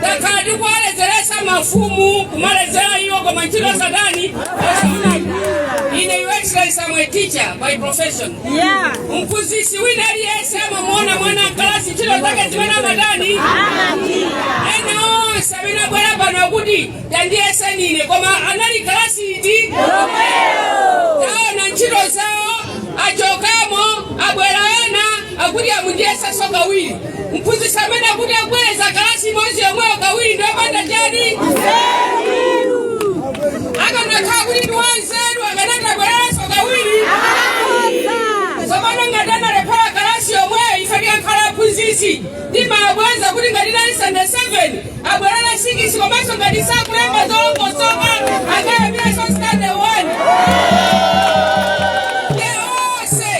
takhala tikuwaledzeretsa mafumu kumaledzera iwo koma ntchito satani ine your excellency I'm a teacher by profession Yeah. mphunzitsi wina aliyense amamuona mwana mkalasi ntchito zake zimene amatani ena onse amene abwera pano akuti Tandiyeseni ine koma anali kalasi iti yomweyo. Taona ntchito zawo achokamo abwera ena akuti amundiyesaso kawiri mphunzitsi amene akuti akubwereza kalasi imodzi yomweyo kawiri ndi wopanda chani akanakhala kuti ndi wanzeru akanati abwerezenso kawiri tsopano ngati analephera kalasi yomweyo ife tikakhala aphunzitsi timambweza kuti ngati unali sitande 7 abwerere sikisi komanso ngati sakulemba zolongosoka akayambirenso stande 1 onse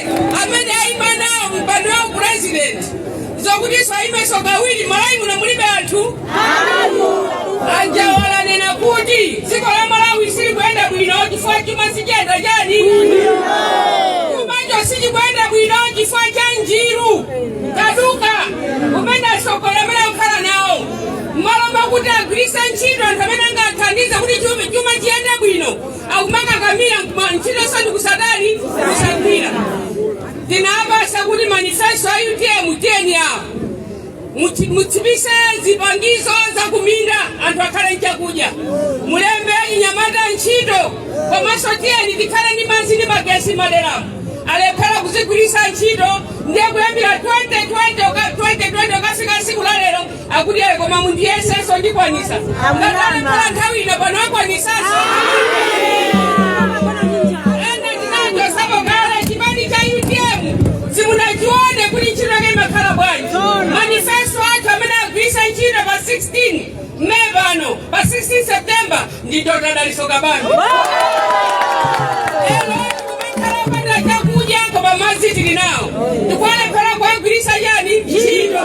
amene ayima nawo mpando ya upresident zokutinso ayimenso kawiri Malawi muno mulibe anthu anzawo anena kuti dziko la malawi silikuyenda bwino chifukwa chuma sichiyenda chani chumacho sichikuyenda bwino chifukwa cha njiru kaduka umene atsogoleri amene akukhala nawo mmalo mwakuti agwiritse ntchito anthu amene angathandize kuti chuma chuma chiyende bwino akumakakamira mkuma- ntchito zoti kusatani kusagwira tinawapatsa kuti manifesto a utm tiyeni awo Muti- mutsitse zipangizo za kuminda anthu akhale nchakudya mulembe anyamata ntchito komanso tiyeni tikhale ndi madzi ndi magesi maderamu alephera kuzigwiritsa ntchito ndiye kuyambira 2020 uka- 2020 ukafika tsiku la lero akuti ayi koma mundiyesenso ndikwanisa ngati alephera nthawi ino pano akwanisanso ena tinachotsapo kale chipani cha utm simunachione kuti ntchito yake imakhala bwanji manifesto akewo amene agwiritsa ntchito pa 16 May pano pa 16 september ndi Dr. Dalitso Kabambe. Lero tikupemphera opanda chakudya koma madzi tili nawo. Tikulephera kuwagwiritsa chani ntchito.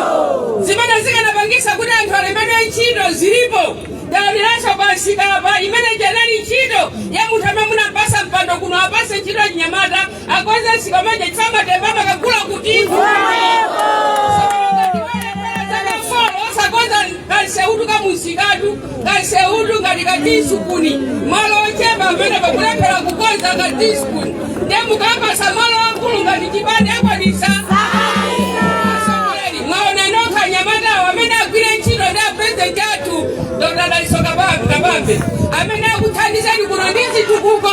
Zimene zikanapangitsa kuti anthu alembedwe ntchito zilipo. Taonaninso pamsika apa imene ija inali ntchito ya munthu amene munampatsa mpando kuno apatse ntchito achinyamata akweza chikamanja chifamba tembamba kakula kuti sakonza kamsewu kamumsikatu kamsewu ngati katisupuni malo ochepa amene akulephera kukonza katisupuni ndiye mukawapatsa malo akulu ngati chipande akwanisa Asomali, mwaona nokha anyamatawo amene agwire ntchito ndi apurezidenti athu dr Dalitso kabambe amene akuthandizani kuno ndi zitukuko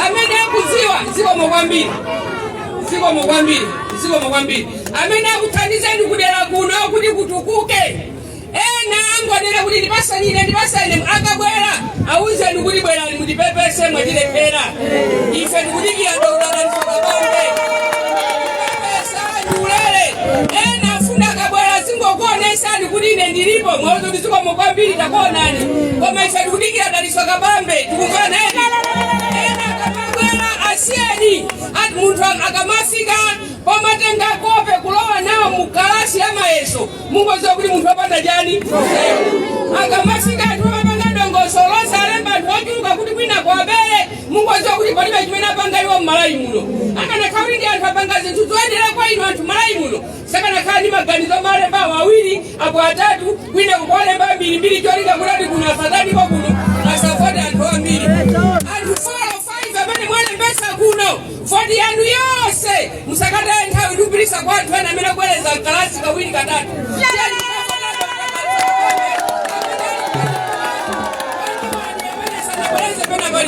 amene akudziwa zikomo kwambiri zikomo kwambiri zikomo kwambiri amene akuthandizeni kudera kuno kuti kutukuke ena angonena kuti ndipasanire ndipasanire akabwera awuzeni kuti bwerani mutipepese mwatilephera ife tikudikira dokotala Dalitso Kabambe pepesa ndiulere ena afuna akabwera zingokuonesani kuti ine ndilipo muwauze kuti zikomo kwambiri takuonani koma ife tikudikira Dalitso Kabambe tikumvana akabwera asiyeni ati munthu akamafika pomatenga kope kulowa nawo mu kalasi ya mayeso mungoziwa kuti munthu wapanda chani akamafika anthu amapanga dongosolo losalemba anthu ochuluka kuti kwina kwabere mungoziwa kuti palibe chimene apanga iwo m'Malawi muno akanakhala kuti ndi anthu apanga zinthu zoyenera kwa inu anthu m'Malawi muno sakanakhala ndi maganizo omalemba awiri apo atatu kwina kuwalemba ambirimbiri cholinga kuti kuno asatanipo kuno asavote anthu ambiri anthu 405 amene mwalembesa kuno voti yanu yonse musakataye nthawi kupitisa kwa anthu ena amene akubwereza kalasi kawiri katatu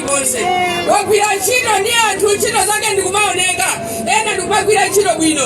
konse wagwira ntchito ndi anthu ntchito zake ndikumaoneka ena ndikumagwira ntchito bwino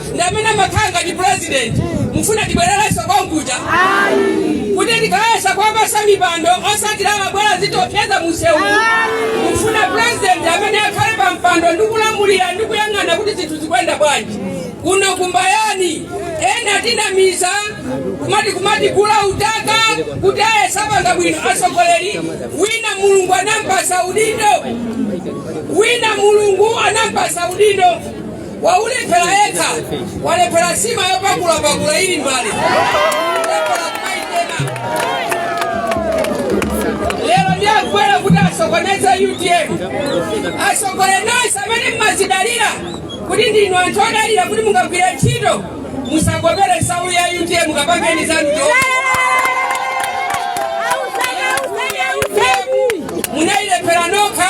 ndi amene amakhala ngati president mufuna tibwererenso konkuja kuti tikayesa kuwapasa mipando osatira amabwera zitopyeza musewu mufuna president amene akhale pa mpando ndi kulamulira ndi kuyang'ana kuti zinthu zikuyenda bwanji kuno kumbayani ena tinamiza kumati kula utaka kuti ayesa panga bwino atsogoleri wina mulungu anampasa udindo waulephera yekha walephera nsima yopakulapakula ili m'mbale lero ndiye abwera kuti asokoneze utm asogole nonse amene mmazidalira kuti ndinu anthu odalira kuti mungagwire ntchito musakopere nsalu ya utm kapangeni zanu munailephera nokha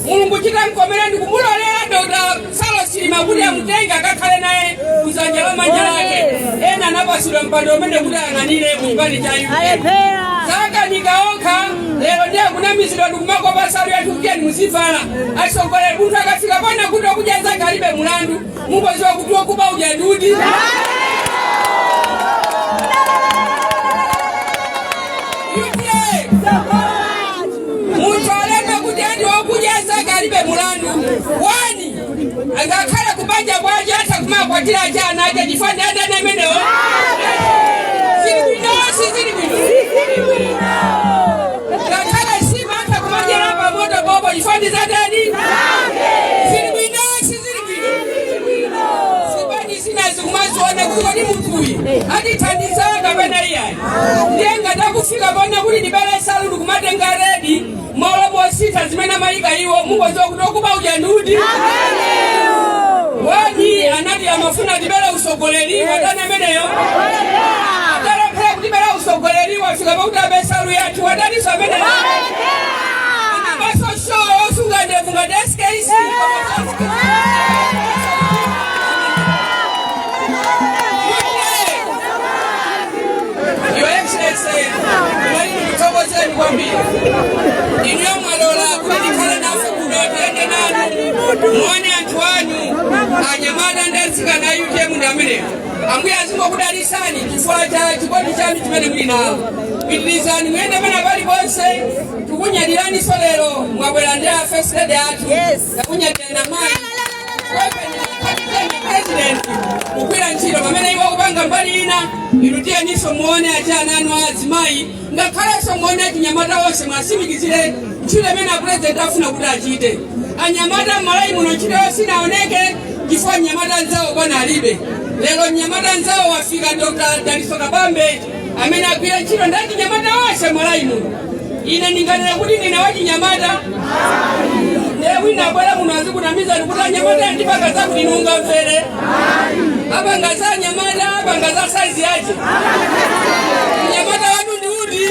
mulungu chidamkomera ndikumulolera dr Saulos Chilima kuti amutenge akakhale naye kudzanja la manja lake ena anapatsidwa mpando umene kuti ayang'anire kuchipani cha UTM zakanika okha lero ndiye kunamizidwa ndikumakopa nsalu ya UTM muzivala atsogoleri munthu akafika pona kuti okudya zake alibe mulandu mungoziwa kuti okuba uja ndi uti munthu alembe kuti adani okudya zake alibe mulandu wani angakhale kubanja kwawo atha kumakwatira ace ana ace chifukwa ndi adani amenewo zili bwino sizili bwino ngakhale sima atha kumadyera pamoto bobo chifukwa ndi zadani zili bwino sizili zipani zina zikumaziona kuti kodi munthuyi atithandizana kapena iyayi ndiye ngati akufika pona kuti atibere salu ndikumatenga redi malo mosintha zimene amayika iwo mukuziwa kuti okuba uja ndi ndani anati amafuna atibere usogoleriwa watani ameneyo atalephera kutibera usogoleriwa fika poti abe salu yathu wataniso ameneyo anabaso so osunga ndevu ngati skc Your Excellency, mwalimu mthokozeni kwambiri inuyo mwalola kuti mukhale nafe kuno tiyende nanu muone anthu anu anyamata ndi atsikana a utm ndi amenewo ambuye azingokudalisani chifukwa cha chikondi chanu chimene muli nacho pitirizani muyende pena paliponse tikunyadiraninso lero mwabwera ndi first lady athu tikunyadira nda mayi president kugwira ntchito pamene iwo akupanga mbali ina inu tiyeniso muone achana anu azimayi ngakhalenso muone achinyamata onse muwasimikizire ntchito imene apurezidenti afuna kuti achite anyamata m'Malawi muno ntchito yonse sinaoneke chifukwa mnyamata nzawo bwana alibe lero mnyamata nzawo wafika dr daliso kabambe amene agwire ntchito ndi achinyamata onse m'Malawi muno ine ndinganena kuti ndine wachinyamata ndiye wina abwera muno azikunamizani kuti anyamata ndipanga zakuti nimungamvere apanga za anyamata apanga za saizi yace mnyamata wathu ndi uti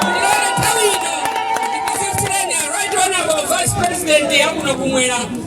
ndilole nthawi ino ndikupatsireni right honorable vice president wakuno kumwera